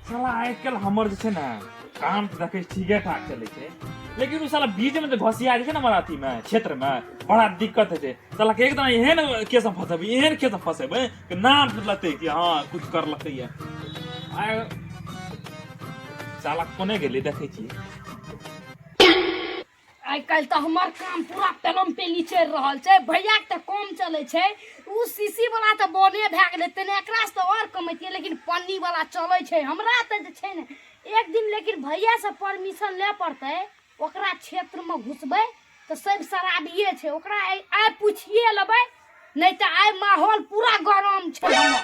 साला आजकल हमर जे छै ने काम तऽ देखै ठीके ठाक चलै छै लेकिन ओ साला बीचमे जे घसिया जाइ छै ने हमर अथीमे क्षेत्रमे बड़ा दिक्कत होइ छै साला के एकदम एहन केसमे फँसेबै एहन केसमे फँसेबै कि नाम लेतै कि हँ किछु करलकै ये आ साला कोने गेलै देखै छी आइ काल्हि तऽ हमर काम पूरा पेलम पेली चलि रहल छै भैयाके तऽ कम चलै छै ओ शीशी वाला तऽ बने भए गेलै तेने एकरासँ तऽ आओर कमैतियै लेकिन पन्नी वाला चलै छै हमरा तऽ जे छै ने एक दिन लेकिन भैयासँ परमिशन ले पड़तै ओकरा क्षेत्रमे घुसबै तऽ सब शराबिए छै ओकरा आइ आइ पूछिए लेबै नहि तऽ आइ माहौल पूरा गरम छै हमर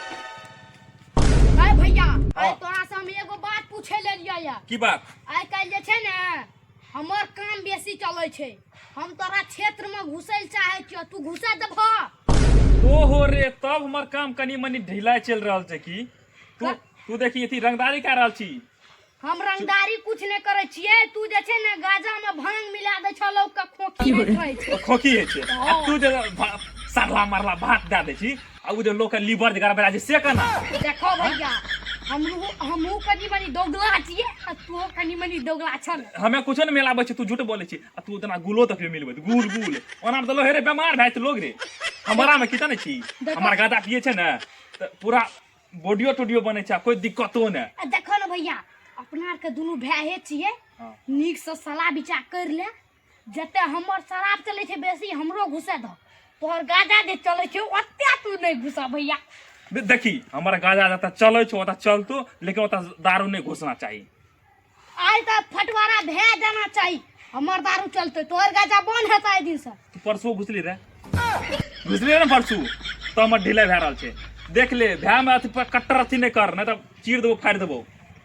आइ भैया आइ हँ। तोरासँ हम एगो बात पूछे लेलियै यऽ की बात आइ काल्हि जे छै ने हमर काम बेसी चलै छै हम तोरा क्षेत्र में घुसै लए चाहे छियो तू घुसा देबह ओहो रे तब हमर काम कनी मनी ढीला चल रहल छै की तू तू देखी अथी रंगदारी कर रहल छी हम रंगदारी कुछ नहीं करे छिए तू जे छै ने गाजा में भांग मिला दे छ लोग के खोखी नहीं रहै छै खोखी है छै तू जे सरला मरला भात दे दे छी आ उ जे लोग के लीवर जे गड़बड़ा छै से केना देखो भैया हमहू हमहू कनी मनी दोगला छियै आ तू कनी मनी दोगला छन हमे कुछो ने मिलाबै छै तू झूठ बोलै छी आ तू तना गुलो तक भी मिलबै गुल गुल ओना में तऽ लोग हे रे बेमार भए जेतै लोग रे हमरा में कितना छी हमर गादा पिए छै ने तऽ पूरा बॉडियो टोडियो बनै छै आ कोई दिक्कतो ने आ देखो ने भैया अपना आर के दुनू भाई छियै हाँ। नीक से सलाह विचार कर ले जते हमर शराब चले छे बेसी हमरो घुसे दो तोहर गाजा जे चले छे ओते तू नहीं घुसा भैया देखी हमर गाजा जता चले छे ओता चलतो लेकिन ओता दारू नहीं घुसना चाहिए आज त फटवारा भे जाना चाहिए हमर दारू चलते तोहर गाजा बन हेता ए दिन से तू परसों घुसली रे घुसली रे परसों तो हमर ढीले भे रहल छे देख ले भे में अथी पर कट्टर अथी नहीं कर नहीं तो चीर देबो फाड़ देबो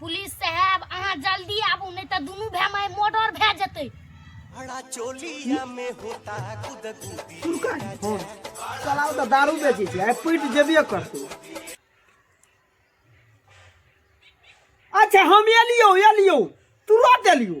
पुलिस साहब अहाँ जल्दी आबू नहि तऽ दुनू भाय माय मर्डर भए जेतै बड़ा चोलिया में होता गुदगुदी चलाउ तऽ दारू बेचै छै आइ पीट जेबे करतौ अच्छा हम एलियौ एलियौ तुरंत एलियौ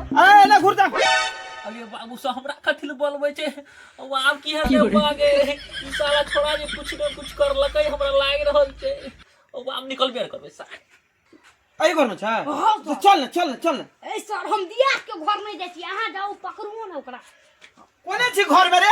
अरे ना घुर जा अरे बाबू सा हमरा कथी ले बोलबै छै ओ आब की है रे बागे ई साला छोड़ा जे कुछ न कुछ कर लकै हमरा लाग रहल छै ओ आब निकल बेर करबै सा अरे घर में छ हाँ, तो चल ना चल ना चल ना ए सर हम दिया के घर नहीं जाय छी अहाँ जाऊ पकड़ू ना ओकरा कोने छी घर में रे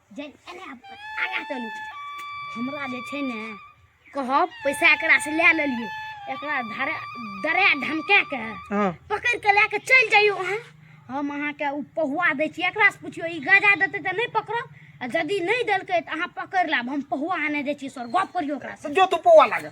जे एने आगा चलू हमरा जे छै ने कहब पैसा एकरा से लए लेलिए एकरा धरे डरा धमका के हाँ पकड़ के लए के चल जाइयो अहाँ हम अहाँ के उ पहुआ दै छी एकरा से पूछियो ई गाजा देते त नहीं पकड़ब आ यदि नहीं देलकै त अहाँ पकड़ लेब हम पहुआ आने दै छी सर गप करियो ओकरा से जो तू पोवा लागल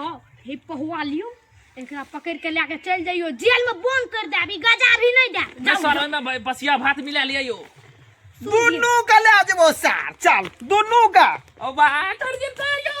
आओ हे पहुआ लियो एकरा पकड़ के लेके चल जाइयो जेल में बंद कर दे अभी गजा भी नहीं दे ना जाओ, सर जाओ। ओहिमे ब- बसिया भात मिला लिया यो दुनू का ले आ जेबो सार चल दुनू का अब बाहर कर जेता यो